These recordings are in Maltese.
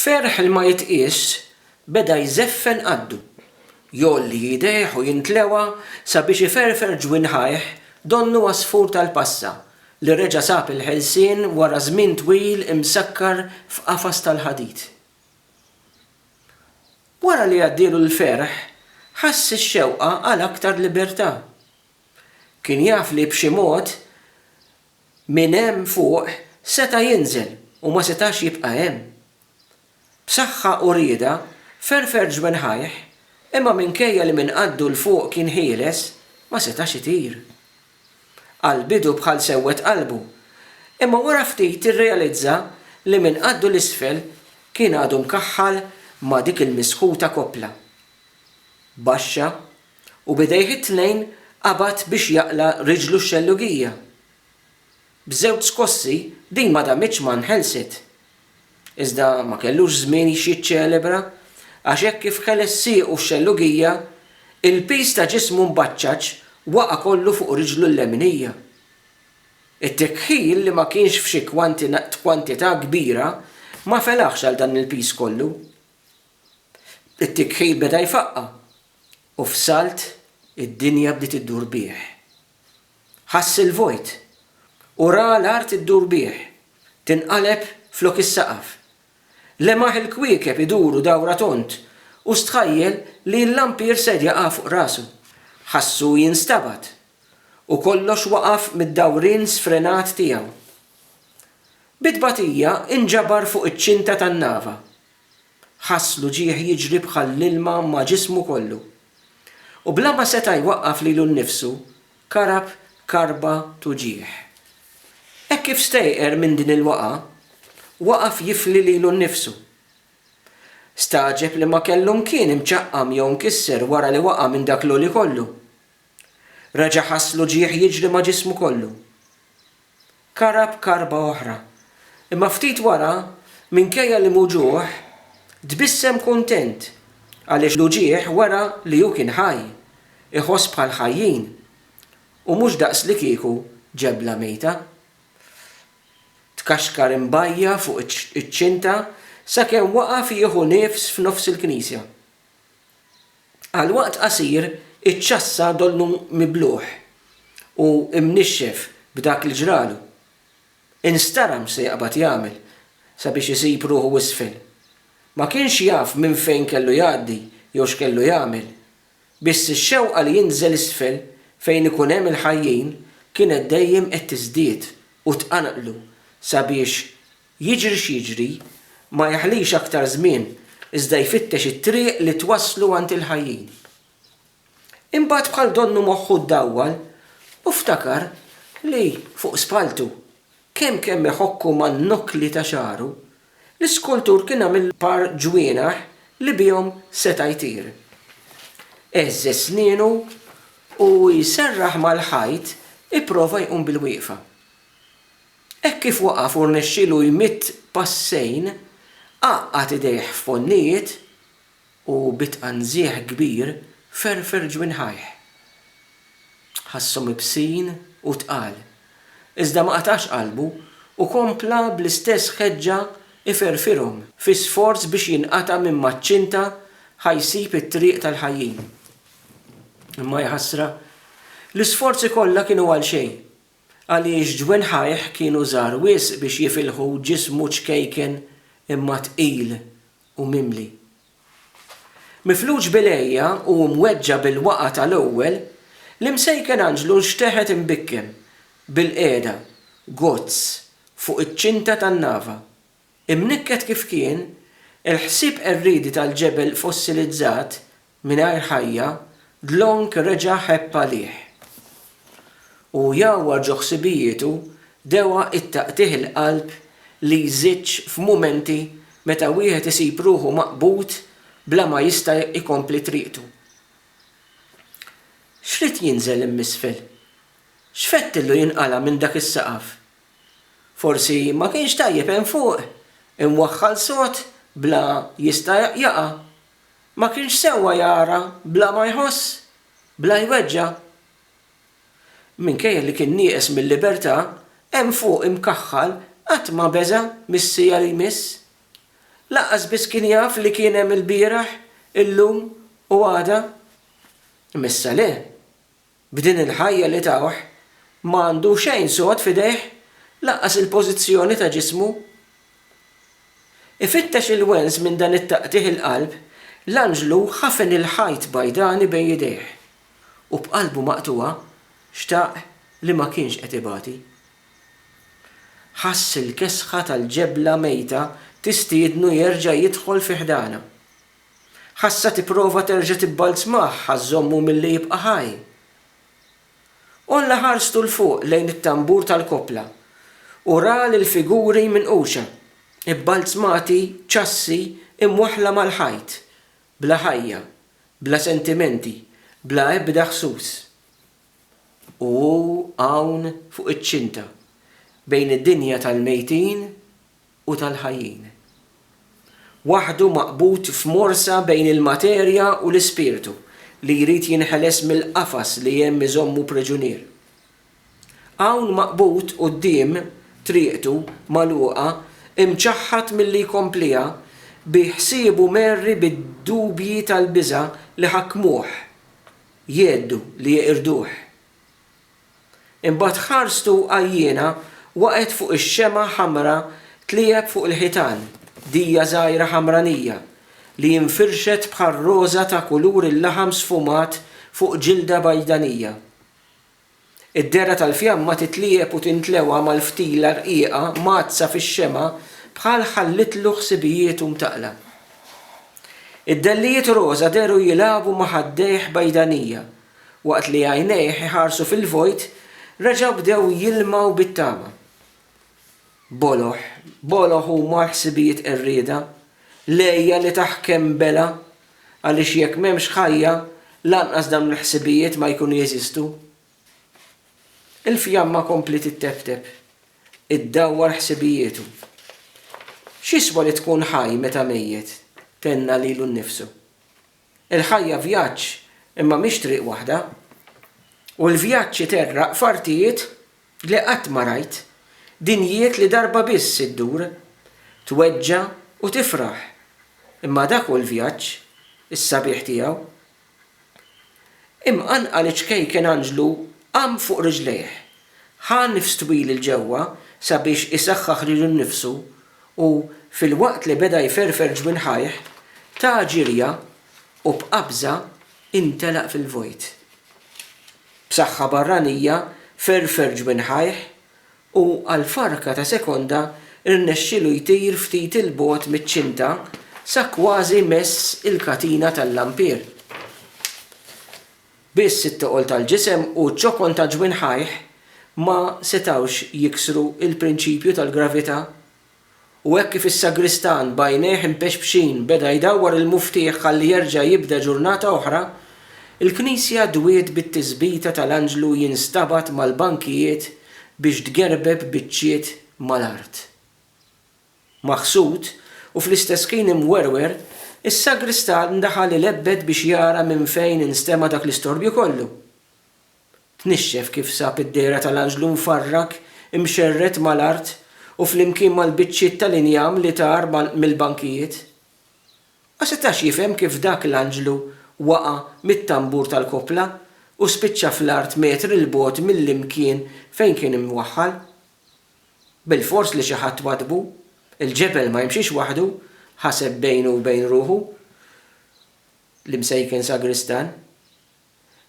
B'ferħ li ma jitqiesx, beda jżeffen qaddu. Jgħolli idejh u jintlewa sabiex iferfer ġwinħajh donnu għasfur tal-passa li reġa' sab il-ħelsien wara żmien twil imsakkar f'qafas tal-ħadid. Wara li għaddielu l-ferħ, ħass ix-xewqa għal aktar libertà. Kien jaf li b'xi mod, Minn hemm fuq seta' jinżel u ma setax jibqa' hemm. B'saħħa u rieda, ferfer ġwenħajh, imma minkejja li minn qaddu 'l fuq kien ħieles, ma setax itir. Għal bidu bħal sewwed qalbu, imma wara ftit irrealizza li minn qaddu 'l isfel kien għadu mkaħħal ma' dik il-misħuta koppla. Baxxa u b'idejh it-tnejn qabad biex jaqla' riġlu x-xellugija. B'żewġ skossi din ma damitx ma nħelset. Iżda ma kellux żmien x'jiċċelebra għax hekk kif ħeles siequ x-xellugija, il-piż ta' ġismu mbaċċaċ waqa' kollu fuq riġlu l-leminija. It-tikħil li ma kienx f'xi kwantità kbira ma felaħx għal dan il-piż kollu. It-tikħil beda jfaqqa' u f'salt id-dinja bdiet iddur bih. Ħass il-vojt u ra l-art iddur bih, tinqaleb flok is-saqaf. Lemaħ il-kwiekeb iduru dawra tond u stħajjel li l-lampir ser jaqa' fuq rasu. Ħassu jinstabad u kollox waqaf mid-dawrien sfrenat tiegħu. Bi tbatija inġabar fuq iċ-ċinta tan-nava. Ħass l-uġigħ jiġri bħal l-ilma ma' ġismu kollu. U bla ma seta' jwaqqaf lilu nnifsu, karab karba t'uġigħ. Hekk kif stejqer minn din il-waqgħa, waqaf jifli lilu nnifsu. Stagħġeb li ma kellu mkien imċaqqam jew mkisser wara li waqa' minn dak l-għoli kollu. Reġa' ħass l-uġigħ jiġri ma' ġismu kollu. karab karba oħra. Imma ftit wara, minkejja l-imwġugħ, tbissem kuntent għaliex l-uġigħ wera li hu kien ħaj, iħoss bħal ħajjin, u mhux daqslikieku ġebla mejta. Tkaxkar imbajja' fuq iċ-ċinta sakemm waqaf jieħu nifs f'nofs il-knisja. Għal waqt qasir, iċ-ċassa donnu miblugħ u mnixxef b'dak li ġralu. Instaram se jaqbad jagħmel sabiex isib ruħu isfel. Ma kienx jaf minn fejn kellu jgħaddi jew x'kellu jagħmel. Biss ix-xewqa li jinżel isfel fejn ikun hemm il-ħajjin kienet dejjem qed tiżdied u tqanqlu sabiex Jiġri x'jiġri, ma jeħlix aktar żmien iżda jfittex it-triq li twasslu għand il-ħajjin. Imbagħad bħal donnu moħħu ddawwal u ftakar li fuq spalltu, kemm kemm iħokku man-nokli ta' xagħru, l-iskultur kien għamillu par ġwienaħ li bihom seta' jtir. Għeżżeż snienu u jserraħ mal-ħajt ipprova jqum bilwieqfa. Hekk kif waqaf u rnexxielu jmidd passejn, għaqqad idejh f'ponnijiet u bi tqanżiegħ kbir ferfer ġwinħajh. Ħasshom ibsin u tqal, iżda ma qatax qalbu u kompla bl-istess ħeġġa iferfirhom fi sforz biex jinqata' minn maċ-ċinta ħa jsib it-triq tal-ħajjin. Imma jaħasra, l-isforzi kollha kienu għalxejn. Għaliex ġwinħajh kienu żgħar wisq biex jifilħu ġismu ċkejken imma tqil u mimli. Mifluġ bil-għeja u mweġġa' bil-waqgħa tal-ewwel, l-Imsejken Anġlu nxteħet imbikkem, bilqiegħda, gozz, fuq iċ-ċinta tan-nava. Imnikket kif kien, il-ħsieb qerriedi tal-ġebel fossilizzat, mingħajr ħajja, dlonk reġa' ħebb għalih. U jgħawwar ġo ħsibijietu dewgħa it-taqtigħ il-qalb li jżiġġ f'mumenti meta wieħed isib ruħu maqbud bla ma jista' jkompli triqtu. X'ried jinżel im'isfel? X'fettillu jinqala' minn dak is-saqaf? Forsi ma kienx tajjeb hemm fuq, imwaħħal sod bla jista' jaqa'. Ma kienx sewwa jara bla ma jħoss, bla jweġġa'. Minkejja li kien nieqes mil-libertà, hemm fuq imkaħħal qatt ma beża' mis-siegħa li jmiss. Lanqas biss kien jaf li kien hemm ilbieraħ, illum u għada. Imma issa le. B'din il-ħajja li tawh, ma għandu xejn sod f'idejh, lanqas il-pożizzjoni ta' ġismu. Ifittex il-wens minn dan it-taqtigħ il-qalb, l-anġlu ħafen il-ħajt bajdani bejn idejh, u b'qalbu maqtugħa xtaq li ma kienx qed ibati. Ħass il-kesħa tal-ġebla mejta tistiednu jerġa' jidħol fi ħdanha. Ħassha tipprova terġa' tibbalzmah ħa żżommu milli jibqa' ħaj. Għolla ħarstu 'l fuq lejn it-tambur tal-koppla u ra lill-figuri minquxa, ibbalzmati, ċassi, imwaħħla mal-ħajt, bla ħajja, bla sentimenti, bla ebda ħsus. U hu hawn fuq iċ-ċinta, bejn id-dinja tal-mejtin u tal-ħajjin. Waħdu maqbud f'morsa bejn il-materja u l-ispirtu li jrid jinħeles mill-qafas li hemm iżommu priġunier. Hawn maqbud quddiem triqtu magħluqa imċaħħad milli jkompliha bi ħsiebu merri bid-dubji tal-biża' li ħakkmuh, jgħeddu li jeqirduh. Imbagħad ħarstu għajjiena waqgħet fuq ix-xemgħa ħamra tliegħeb fuq il-ħitan, dija żgħira ħamranija li infirxet bħar-roża ta' kulur il-laħam sfumat fuq ġilda bajdanija. Id-dehra tal-fjamma titliegħeb u tintlewa mal-ftila rqiqa mgħaddsa fix-xemgħa bħal ħallitlu ħsibijietu mtaqqla. Id-dellijiet roża dehru jilagħbu ma' ħaddejh bajdanija Waqt li għajnejh iħarsu fil-vojt, reġgħu bdew jilmgħu bit-tama. Boloh, boloh huma l-ħsibijiet qerrieda, l-għeja li taħkem bela, għaliex jekk m'hemmx ħajja, lanqas dawn il-ħsibijiet ma jkunu jeżistu. Il-fjamma kompliet itteptep, iddawwar ħsibijietu. X'jiswa li tkun ħaj meta mejjet? tenna lilu nnifsu. Il-ħajja vjaġġ imma mhix triq waħda. U l-vjaġġ iterraq f'artijiet li qatt ma rajt, dinjiet li darba biss iddur, tweġġa' u tifraħ, imma dak hu l-vjaġġ, is-sabiħ tiegħu. Imqanqal iċ-ċkejken Anġlu qam fuq riġlejh, ħa nifs twil 'il ġewwa sabiex isaħħaħ lilu nnifsu U filwaqt li beda jferfer ġwinħajh, ta ġirja u b'qabża intelaq fil-vojt. B'saħħa barranija ferfer ġwinħajh u għal farka ta' sekonda rnexxielu jtir ftit 'il bogħod miċ-ċinta sa kważi mess il-katina tal-lampier. Biss it-toqol tal-ġisem u ċ-ċokon ta' ġwinħajh ma setgħux jiksru l-prinċipju tal-gravità. U hekk kif is-sagristan b'għajnejh impexpxin beda jdawwar il-muftieħ ħalli jerġa' jibda ġurnata oħra, il-knisja dwiet bit-tisbita tal-anġlu jinstabat mal-bankijiet biex tgerbeb biċċiet mal-art. maħsud, u fl-istess ħin imwerwer, is-sagristan daħal ilebbed biex jara minn fejn instema' dak l-istorbju kollu. Tnixxef kif sab id-dehra tal-anġlu mfarrak, imxerred mal-art u flimkien mal-biċċiet tal-injam li tar mill-bankijiet. Ma setax jifhem kif dak l-anġlu waqa' mit-tambur tal-koppla u spiċċa fl-art metri 'l bogħod mill-imkien fejn kien imwaħħal. Bilfors li xi ħadd waddbu. Il-ġebel ma jimxiex waħdu, ħaseb bejnu u bejn ruħu l-Imsejken Sagristan.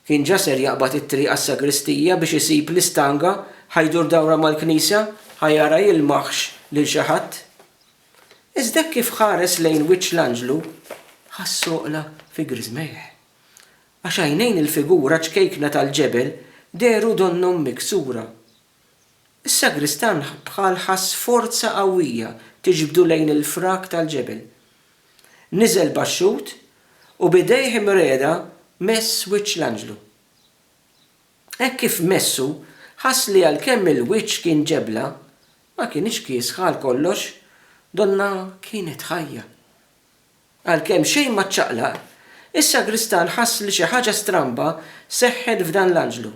Kien ġa ser jaqbad it-triq għas-sagristija biex isib l-istanga, ħa jdur dawra mal-knisja, ħa jara jilmaħx lil xi ħadd. Iżda hekk kif ħares lejn wiċċ l-anġlu, ħass soqla fi griżmejh. Għax għajnejn il-figura ċkejkna tal-ġebel dehru donnhom miksura. Is-sagristan bħal ħass forza qawwija tiġbdu lejn il-frak tal-ġebel. Niżel baxxut u b'idejh imriegħda mess wiċċ l-anġlu. Hekk kif messu, ħass li għalkemm il-wiċċ kien ġebla, ma kienitx kiesħa għalkollox, donnha kienet ħajja. Għalkemm xejn ma ċċaqlaq, is-sagristan ħass li xi ħaġa stramba seħħet f'dan l-anġlu.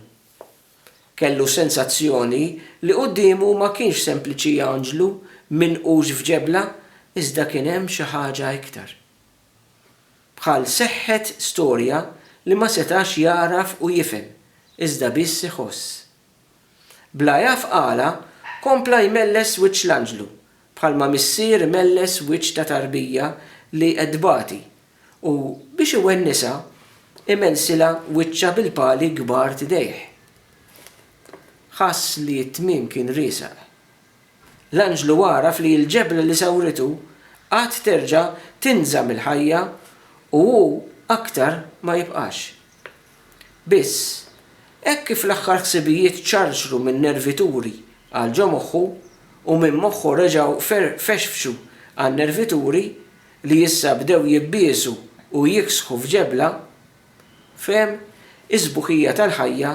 Kellu sensazzjoni li quddiemu ma kienx sempliċi anġlu minqux f'ġebla iżda kien hemm xi ħaġa iktar. Bħal seħħet storja li ma setax jagħraf u jifhem, iżda biss iħoss. Bla jaf qalha, kompla jmelles wiċċ l-anġlu, bħalma missier imelles wiċċ ta' tarbija li qed tbati, u, biex iwennisha, imellsilha wiċċha bil-pali kbar t'idejh. Ħass li t-tmiem kien riesaq. L-anġlu għaraf li l-ġebla li sawritu qatt terġa' tinża mill-ħajja u hu aktar ma jibqax. Biss, hekk kif l-aħħar ħsibijiet ċarċru minn nervituri għal ġo moħħu u minn moħħu reġgħu fexfxu għal nervituri li issa bdew jibbiesu u jiksħu f'ġebla, fehem is-sbuħija tal-ħajja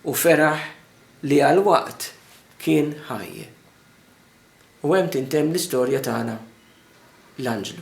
u feraħ li għal waqt kien ħaj. U hemm tintemm l-istorja tagħna, L-Anġlu.